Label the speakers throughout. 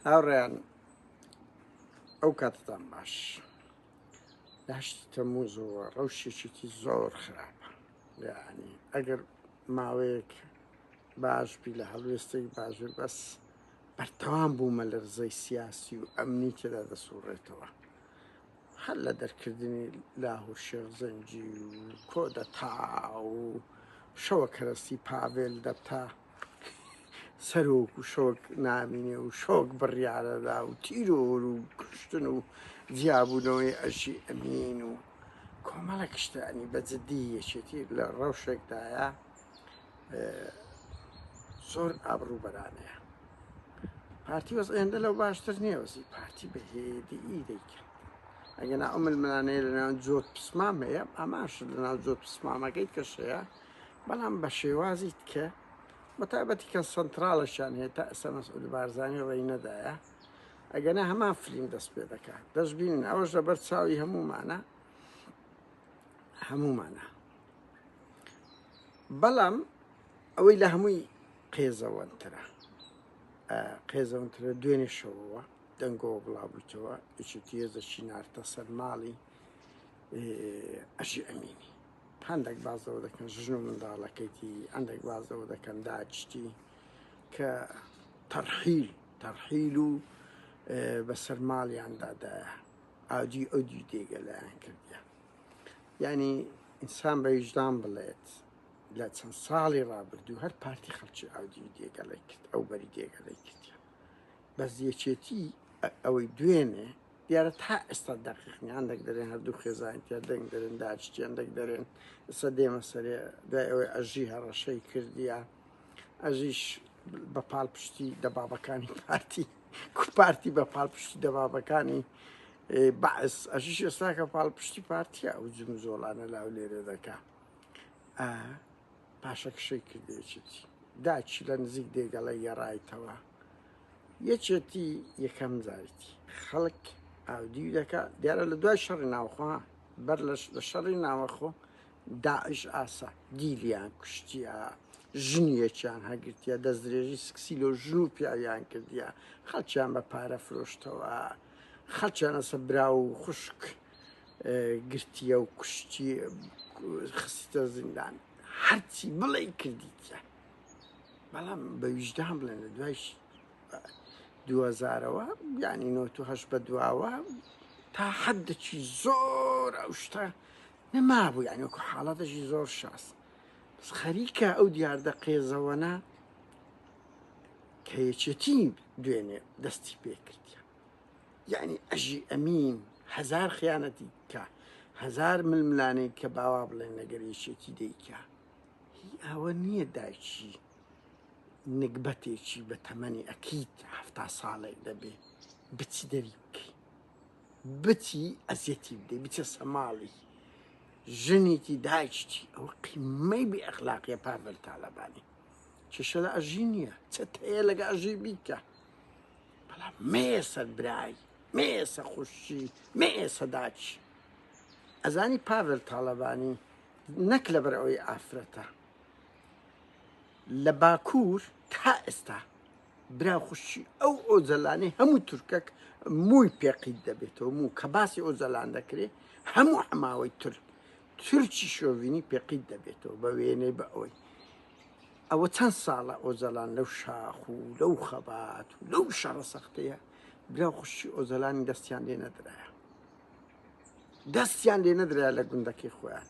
Speaker 1: هاوڕێیان ئەو کاتتان باش لەهشتی تەموزەوە ڕەوشێکێکی زۆر خراپە یعنی ئەگەر ماوەیەک باش بی لە هەڵوێستێک باشر بەس بەردەوام بوومە لەرزەی سیاسی و ئەمنی تێدا دەسوڕێتەوە هەر لە دەرکردنی لاهور شێخ زەنجی و کۆدە تا و شەوە کەرەستی پاڤێل دەبتا سەرۆک و شۆک نامینێ و شۆک بڕیارەدا و تیرۆر و کوشتن و جیابوونەوەی ئەرشی ئەمین و کۆمەڵە کشتانی بە جددی یەکێتی لە ڕەوشێکدایە زۆر ئابڕوو بەرانەیە پارتی وەز ئێندە لەو باشتر نییە وەزی پارتی بە هێدی دەیکرد ئەگەنا ئەو ململانەیە لە ناو جۆت پسمام هەیە ئاماش لە ناو جۆت پسمامەکەیت کەشەیە بەڵام بە شێوازی تکە بەتابەتی کە سەنتراڵشان هەیە تا ئێستا مەسعود بارزانانی ڕێی نەدایە ئەگەنا هەمان فلیم دەست پێ دەکات دەستبینن ئەوەش لەبەر چاوی هەمومانە هەمومانە بەڵام ئەوەی لە هەمووی قێزەوەنترە قێزەونترە دوێنێ شەوەوە دەنگەوە بڵاوبوویتەوە یچێتی هێزەکی نارتە سەر ماڵی ئەشی ئەمینی هەندەک باس لەوە دەکەن ژن و منداڵەکەیتی، هەندەک باس لەوە دەکەن داعشتی کە تەرحیل تەرحیل و بەسەر ماڵیاندادایە ئاجی ئەو دی دێگەلایان کردیان یعنی ئینسان بە ویژدان بڵێت لە چەند ساڵی ڕابردوو هەر پارتی خەڵکی ئاودی و دێگەڵی کرد ئەو بەری دێگەڵی کردیان بەس یەکێتی ئەوەی دوێنێ دیارە تا ئێستا دەقیق نیان دەک دەێن هەردوو خێزانتیا دەنگ دەێن داچتیان دەک دەێن ئستا دێمە سەرێ دوای ئەوەی ئەژی هەڕەشەی کردیە ئەژیش بە پاڵ پشتی دەبابەکانی پارتی کوپارتی بە پاڵ پشتی دەبابەکانی بەعس ئەژیش ئێستاکە پاڵ پشتی پارتیە ئەو جم زۆڵانە لاو لێرێ دەکا پاشە کشەی کردێچێتی داچی لە نزیک دێگەڵە یەڕایتەوە یەکێتی یەکەم جاریتی خەڵک ئاودیو دەکات دیارە لە دوای شەڕی ناوخۆ بەر لە شەڕی ناوەخۆ داعش ئاسا دیلیان کوشتیا ژنیەکیان هەگرتیا دەستدرێژی سکسی لۆ ژن و پیاویان کردیا خەڵکیان بە پارە فرۆشتەوە خەچەنەسە برا و خوشک گرتیە و کوشتی خستە زیندان هەرچی بڵێ کردیتە بەڵام بە ویژدان بڵێن لە دوای دوزارەوە بیانی نۆه بە دواوە تا حەدەکی زۆر ئەو شتە نەمابوو یانی وەکو حاڵەتەشی زۆر شاس خەریکە ئەو دیاردە قێزەوەە کە یەکێتی دوێنێ دەستی پێکردە یعنی ئەژی ئەمین هزار خیانەتی کە هزار ململانەی کە باوا بڵێن لەگەر یەکێتی دەیکە هی ئەوە نیە دایکی نگبەتێکی بە تەمەنی ئەکید حەفتا ساڵەی دەبێ بچی دەری بکەی بچی ئەزیەتی بدەی بچە سەماڵی ژنێکی دایکی ئەو قیمەی بێ ئەخلاقیە پاڤل تاالبانی کێشە لە ئەژی نییە چەت هەیە لەگە ئەژی بیکە بەڵام مێسەر برای مێسە خوشی مێسە داچی ئەزانی پاڤل تاالبانی نەک لەبەر ئەوەی ئافرەتە لە باکوور تا ئێستا برا خوشی ئەو ئۆجەلانەی هەموو تورکەک مووی پێقیت دەبێتەوە موو کە باسی ئۆجەلان دەکرێت هەموو حماوەی تورک تورکی شۆڤینی پێقیت دەبێتەوە بە وێنەی بە ئەوەی ئەوە چەند ساڵە ئۆجەلان لەو شاخ و لەو خەبات و لەو شەڕە سەختەیە برا خوشی ئۆجەلانی دەستیان لێ نەدرایە دەستیان لێ نەدرا لە گوندەکەی خۆیان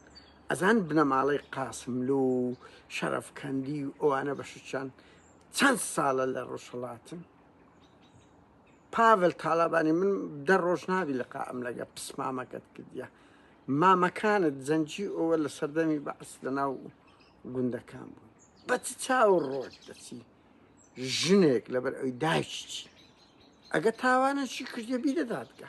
Speaker 1: ئەزان بنەماڵەی قاسملو و شەرەفکەندی و ئەوانە بەشچان چەند ساڵە لە ڕۆژهڵاتن پاڤل تاالبانی من دە ڕۆژ ناوی لە قائم لەگە پسمامەکەت کردە مامەکانت زەنجی ئەوە لە سەردەمی بەعس لە ناو گوندەکان بوو بەچ چاو ڕۆژ دەچی ژنێک لەبەر ئەوی دایشتی ئەگە تاوانە چی کردە بی دەدادگە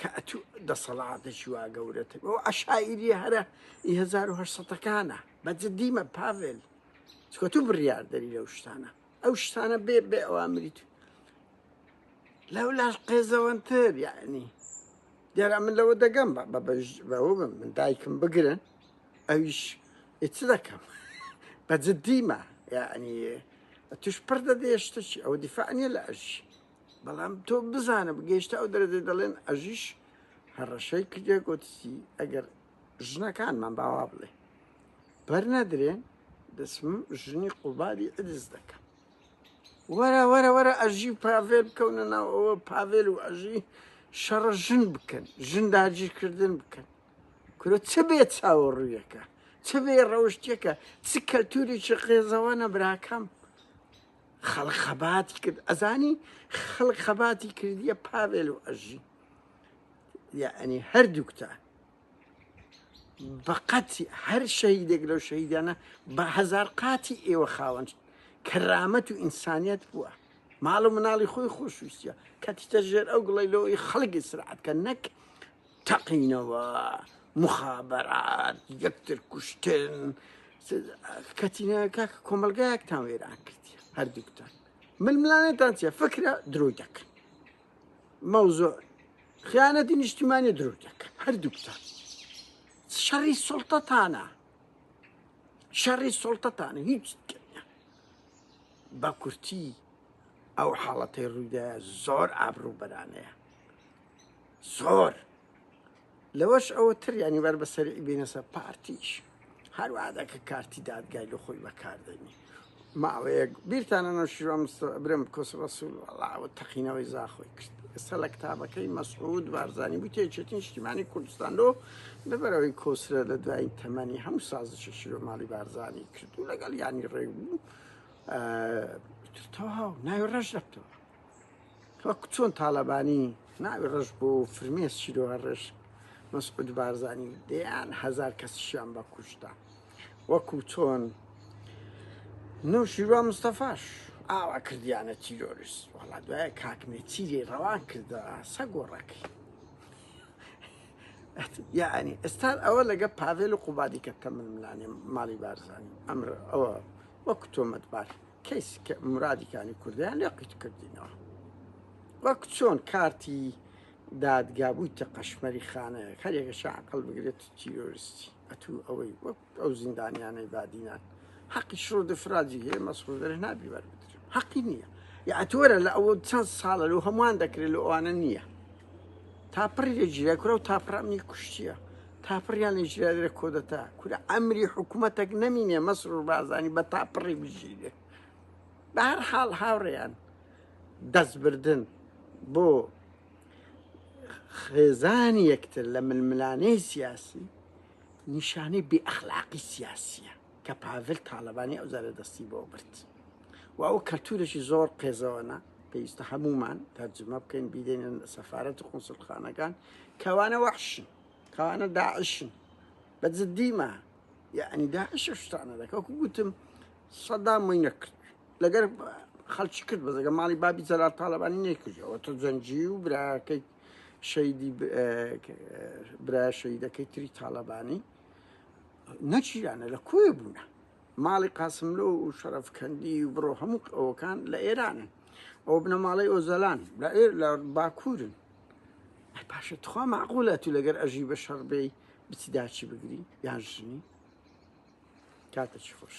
Speaker 1: کەئەتو دەسەڵاتێکی وا گەورەتر بەو عەشایریە هەرە ی هەزار و هەشت سەدەکانە بە جدیمە پاڤێل چکە تو بڕیاردەری لەو شتانە ئەو شتانە بێ بێ ئەوامری تو لەو لاش قێزەوەنتر یعنی دیارە من لەوە دەگەم بە بەوە بم من دایکم بگرن ئەویش ئیچ دەکەم بە جدیمە یعنی توش پڕ دەدێشتەکی ئەو دیفاع نیە لە ئەژی بەڵام تۆ بزانە بگەیشتە ئەو دەرەجە دەڵێن ئەژیش هەڕەشەی کردێ گوتسی ئەگەر ژنەکانمان باوا بڵێ بەر نەدرێن دەسم ژنی قوباری ئەدز دەکەم وەرە وەرە وەرە ئەژی پاڤێل بکەونە ناو ئەوە پاڤێل و ئەژی شەڕە ژن بکەن ژن داگیرکردن بکەن کورە چ بێ چاوەڕوویەکە چ بێ ڕەوشتەکە چ کەلتوریی قێزەوە نەبراکەم خەڵک خەباتی کرد ئەزانی خەڵک خەباتی کردیە پاوێل و ئەژی یعنی هەردووکتە بەقەت هەر شەهیدێک لەو شەهیدانە بە هزار قاتی ئێوە خاوەن کەرامەت و ئینسانیت بووە ماڵ و مناڵی خۆی خۆشویستە کەتیتە ژێر ئەو گڵی لەوەی خەڵکی سرعات کە نەک تەقینەوە موخابەرات یەکتر کوشتن کەچینە کاک کۆمەلگایەکتان وێران کردی هەردووکتان ململانێتان چیە فکرە درۆی دەکەن مەوزۆر خیانەتی نیشتیمانی درۆ دەکەن هەردووکتان شەڕی سڵتەتانە شەڕی سڵتەتانە هیچ بە کورتی ئەو حاڵەتی ڕوویدا زۆر ئابروو بەرانەیە زۆر لەوەش ئەوە تر ینی بەر بەسەری بینەسە پارتیش هەروادە کە کارتی دادگای لە خۆی بەکاردەنی ماوەیەک بیرتانە نەشیوام برم کۆس ڕسول وڵاوە تەقینەوەی زاخۆی کرد ئێستا لە کتابەکەی مەسعود بارزانانی بوو تێچێتی نیشتیمانی کوردستان لۆ لەبەرەوەی کۆسرە لە دوایین تەمەنی هەموو سازشی شیرۆ ماڵی بارزانانی کردو لەگەڵ ینی ڕێ بوو تەواو ناوی ڕەش دەکتەوە وەک چۆن تاالبانی ناوی ڕژ بۆ فرمێس چیرۆە ڕێش مەسعود بارزانانی دەیان هزار کەسیشیان بە کوشتا وەکو چۆن نو شیروا مستەفاش ئاوا کردیانە تیرۆریس وڵا دوای کاکمێ چیری ڕەوان کردە سە گۆڕەکەی یعنی ئێستا ئەوە لەگە پاڤێل و قوبادی کە تەمن ملانێ ماڵی بارزانانی ئەمر ئەوە وەکو تۆمەتبار کەیسی کە مرادی کانی کوردیان لێ قیت کردینەوە وەک چۆن کارتی دادگا بوویتە قەشمەری خانەیە هەرێکە شعقل بگرێت تیرۆرستی ئەتو ئەوەی وەک ئەو زیندانیانەی بادینان حەقی شڕ دفراجی هەیە مەسڕدر نابی وەربدر حەقی نییە یاعتوەرە لە ئەوە چەند ساڵە لەو هەمووان دەکرێت لە ئەوانە نییە تاپڕی لە جیرای کورە و تاپرامنی کوشتیە تاپڕیان لە ژیرا لە کۆدەتا کورە ئەمری حکوومەتەک نەمینێ مەسرور بازانی بە تاپڕی بژیرێ بە هەر حاڵ هاوڕێیان دەستبردن بۆ خێزانی یەکتر لە ململانەی سیاسی نیشانەی بێئەخلاقی سیاسیە کە پاڤل تاالبانی ئەو زارە دەستی بۆ برد و ئەو کەلتورێکی زۆر قێزەوەە پێویستە هەمومان تەرجمە بکەین بیدێنن سەفاەت و قنسلخانەکان کەوانە وەحشن کانە داعشن بە جدی ما یعنی داعش ئەو شتانە دەکە وەکو گوتم سەدام وەی نەکرد لەگەر خەڵکی کرد بەزەگە ماڵی بابی جەلال تاالبانی نەکردەوە تۆ جەنجی و براکەی شەیدی برا شەیدەکەی تری تاالبانی نەچیرانە لە کوێ بوونە ماڵی قاسملۆ و شەرفکەندی و بڕۆ هەموو ئەوەکان لە ئێرانن ئەو بنەماڵەی ئۆزەلان لە ئێر لە باکوورن ئەی باشە تخوا معقولە تو لەگەر ئەژی بە شەڕ بێی بچی داچی بگری یان ژنی کاتە چی خۆش